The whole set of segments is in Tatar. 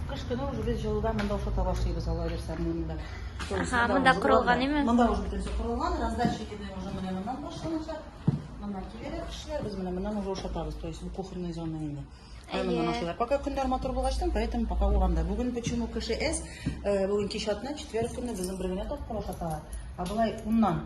Кыш көне уже без җылыда монда ушата башлыйбыз алла бирсә монда. Ага, монда корылган име? Монда уже бөтенесе корылган, раздача итүне уже менә моннан башланачак. Моннан киләләр кешеләр, без менә моннан уже ушатабыз, то есть бу кухонный зона инде. Әйе. Моннан ашыйлар. Пока көннәр матур булгачтан, поэтому пока урамда. Бүген почему кеше эс, э, бүген кич атна, четверг көнне безнең бер генә тапкыр ушаталар. А болай уннан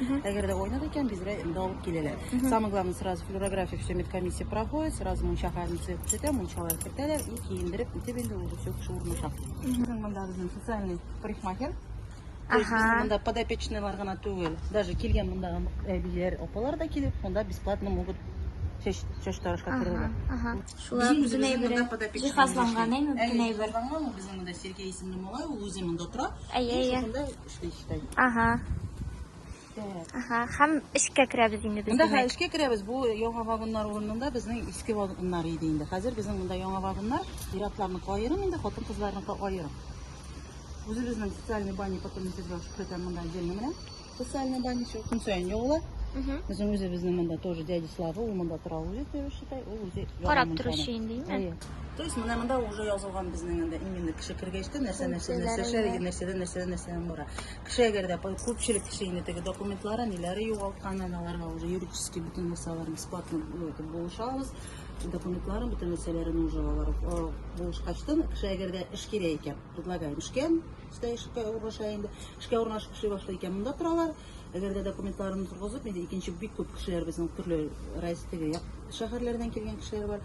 Угу. Әгәр дә уйнады икән, безгә инде алып киләләр. Угу. Самое главное, сразу флюорография, все медкомиссия проходит, сразу мунча хәлен төзәтә, мунчалар кертәләр и киендереп, итеп инде уже все кеше урнаша. Угу. Монда безнең социальный парикмахер. Ага. Монда подопечныйлар гына түгел, даже килгән монда әбиләр, апалар да килеп, монда бесплатно могут чәч чәч тарашка керергә. Ага. Шулар үзенә әйбер. Җиһазланган әйме, бөтен әйбер. Җиһазланган, безнең монда Сергей исемле малай, ул үзе монда тора. Әйе, әйе. Ага. Ага, һәм эшкә керәбез инде без. Монда хәзер эшкә керәбез. Бу яңа вагоннар урынында безнең иске вагоннар иде инде. Хәзер безнең монда яңа вагоннар, иратларны кайырым инде, хатын кызларны кайырым. Үзебезнең социальный баня потом сезгә шуктан монда җелне менә. Социальный баня шул көн саен яула. Безнең үзебезнең монда тоже дядя Слава, ул монда тора үзе, считай, ул үзе. Карап торучы инде, инде. То есть менә монда уже язылган безнең инде именно кеше кергәчтә нәрсә нәрсә нәрсә нәрсәдән нәрсәдән нәрсәдән бара. Кеше әгәр дә күпчелек кеше инде теге документлары ниләре югалткан, аларга уже юридически бөтен нәрсәләр бесплатно итеп булышабыз. Документларын бөтен нәрсәләрен уже алар булышкачтан кеше әгәр дә эш кирә икән, предлагаем эшкә, өстә эшкә урнаша инде. Эшкә урнашып эшли башлый икән, монда торалар. Әгәр дә документларын торгызып, инде икенче бик күп кешеләр безнең төрле райс теге шәһәрләрдән килгән кешеләр бар.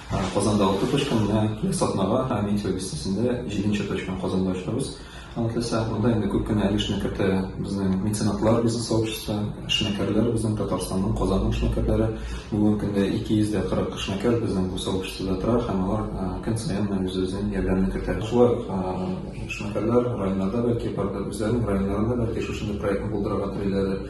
Казанда алты точка, менә киләсе атнага Метео бистәсендә җиденче точканы Казанда ачабыз. Алла теләсә, монда инде күп кенә өлешне кертә безнең меценатлар, бизнес сообщество, эшмәкәрләр, безнең Татарстанның, Казанның эшмәкәрләре. Бүгенге көндә 240 эшмәкәр безнең бу сообществода тора һәм алар көн саен менә үз-үзенең ярдәмен кертә. Шулай ук эшмәкәрләр районнарда, бәлки, барыбер үзләренең районнарында, бәлки, шушындый проектны булдырырга телиләрдер.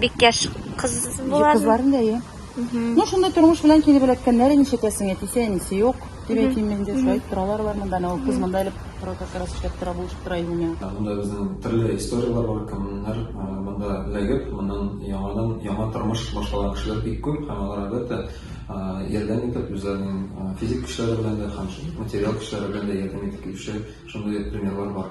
Бик яшь кыз була. Кызларын да я. Ну, шунда тормыш белән килеп эләккәннәр, ничәтәсең, әтисе, әнисе юк. Дип әйтим мин дә, шулай торалар бар монда, анау кыз монда элеп тора, как раз эшләп тора, булышып тора илмә. Монда безнең төрле историяләр бар, кемнәр монда эләгеп, моннан яңадан яңа тормыш башлаган кешеләр бик күп, һәм алар әлбәттә ярдәм итеп, үзләренең физик көчләре белән дә, һәм материаль көчләре белән дә ярдәм итеп килүче шундый примерлар бар.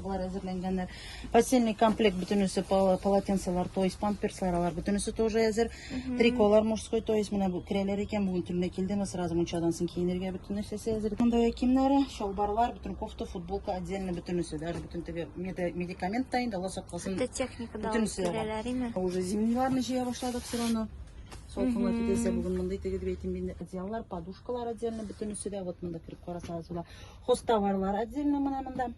Алар әзерләнгәннәр. Постельный комплект бөтенесе полотенцелар, то есть памперслар, алар бөтенесе тоже әзер. Триколар мужской, то есть менә бу керәләр икән, бүген төнлә килдеме, сразу мунчадан соң киенергә бөтен нәрсәсе әзер. Монда кимнәре, шалбарлар, бөтен кофта, футболка отдельно бөтенесе, даже бөтен теге медикамент та инде, Алла сакласын. Бөтен техника да керәләр име? Уже зимниларны җыя башладык все равно. Солкынлар китәсе бүген монда итеге дип әйтим инде. Одеяллар, подушкалар отдельно бөтенесе дә вот монда кереп карасагыз, хоста барлар отдельно менә монда.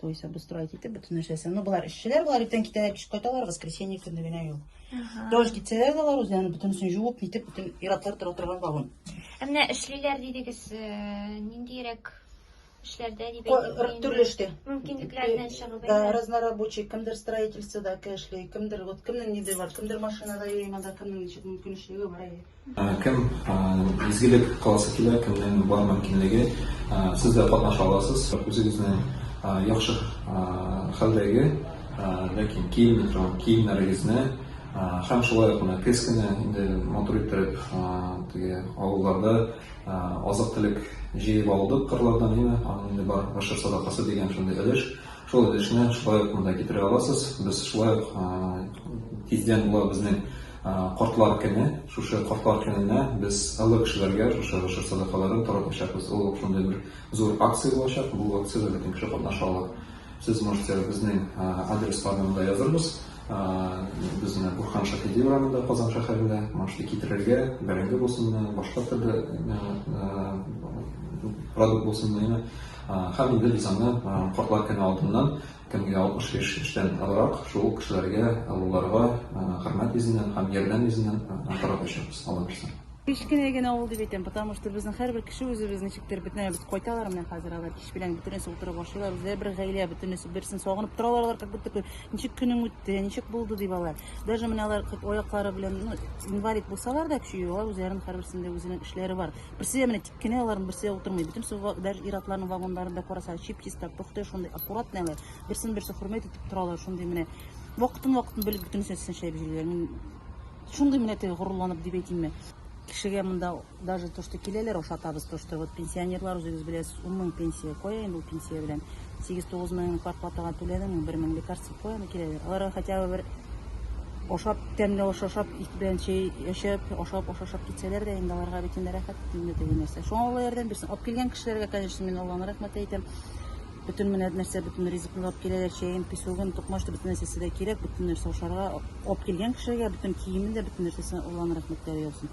То есть обустроить итеп, бөтен нәрсәсен. Ну, болар эшчеләр, болар иртән китәләр, кич кайталар, воскресенье көне генә юл. Дождь китсәләр дә алар үзләрен бөтенесен жуып, нитеп, бөтен иратлар тора торган вагон. Ә менә эшлиләр дидегез, э, ниндирәк эшләрдә дип Ко- әйтик инде. Төрле эштә. Мөмкинлекләрдән чыгып. Да, әйе. разнорабочий, кемдер строительствода эшли, кемдер, вот кемнең ниде бар, кемдер машинада, ямада, кемнең ничек мөмкинчелеге бар. әйе. Кем изгелек кыласы килә, кемнең бар мөмкинлеге, сез дә катнаша аласыз. Үзегезне яхшы хәлдәге, ләкин киенми торган киемнәрегезне һәм шулай ук менә көз көне инде матур иттереп теге авылларда азык-төлек җыеп алдык кырлардан, әйеме, аның инде бар гашер садакасы дигән шундый өлеш. Шул өлешне шулай ук монда китерә аласыз. Без шулай ук тиздән була безнең Кортлар көне, шушы кортлар көненә без олы кешеләргә шушы гошер садакаларын таратачакбыз. Ул шундый бер зур акция булачак, бу акциядә бөтен кеше катнаша ала. Сез можете безнең адресларны монда язырбыз. Без менә Бурхан Шаһиди урамында, Казан шәһәрендә. Можете китерергә, бәрәңге булсынмы, башка төрле продукт булсынмы, һәм инде без аны кортлар көне алдыннан Кемгә 60 яшь эштән азрак, шул ук кешеләргә, олыларга хөрмәт йөзеннән һәм ярдәм йөзеннән каратачакбыз, алла бирса. Кечкенә генә авыл дип әйтәм, потому что безнең һәрбер кеше үзебез ничектер бөтен без кайталар менә хәзер алар кич белән бөтенесе утырып ашыйлар, үзләре бер гаилә, бөтенесе берсен сагынып торалар алар, как будто ничек көнең үтте, ничек булды дип алар. Даже менә алар аяклары белән, ну, инвалид булсалар да, чөй, алар үзләрен һәрберсендә үзенең эшләре бар. Берсе дә менә Кенә аларның берсе утырмый. Бөтен су даже иратларның вагонларында караса, чип-чиста, пөхтә шундый аккуратный алар. Берсен берсе хөрмәт итеп торалар, шундый менә вакытын вакытын белеп бөтен нәрсәсен шәп җөйләр. Мин шундый менә теге горурланып дип әйтимме. Кешегә монда даже то, что киләләр, ашатабыз то, что вот пенсионерлар үзегез беләсез, 10 мең пенсия. Кая инде ул пенсия белән? 8-9 мең квартплатага түләдем, бер мең лекарство куяны киләләр. Аларга хотя бы бер ашап, тәмле аш ашап, ит белән чәй эчеп, ашап, аш ашап китсәләр дә, инде аларга бит инде рәхәт инде теге нәрсә. Шуңа Алла ярдәм бирсен. Алып килгән кешеләргә, конечно, мин Алланы рәхмәт әйтәм. Бөтен менә нәрсә, бөтен ризыкны алып киләләр, чәен, песогын, токмашты, бөтен нәрсәсе дә кирәк, бөтен нәрсә ашарга. Алып килгән кешеләргә бөтен киемен дә, бөтен нәрсәсен Алланы рәхмәтләре яусын.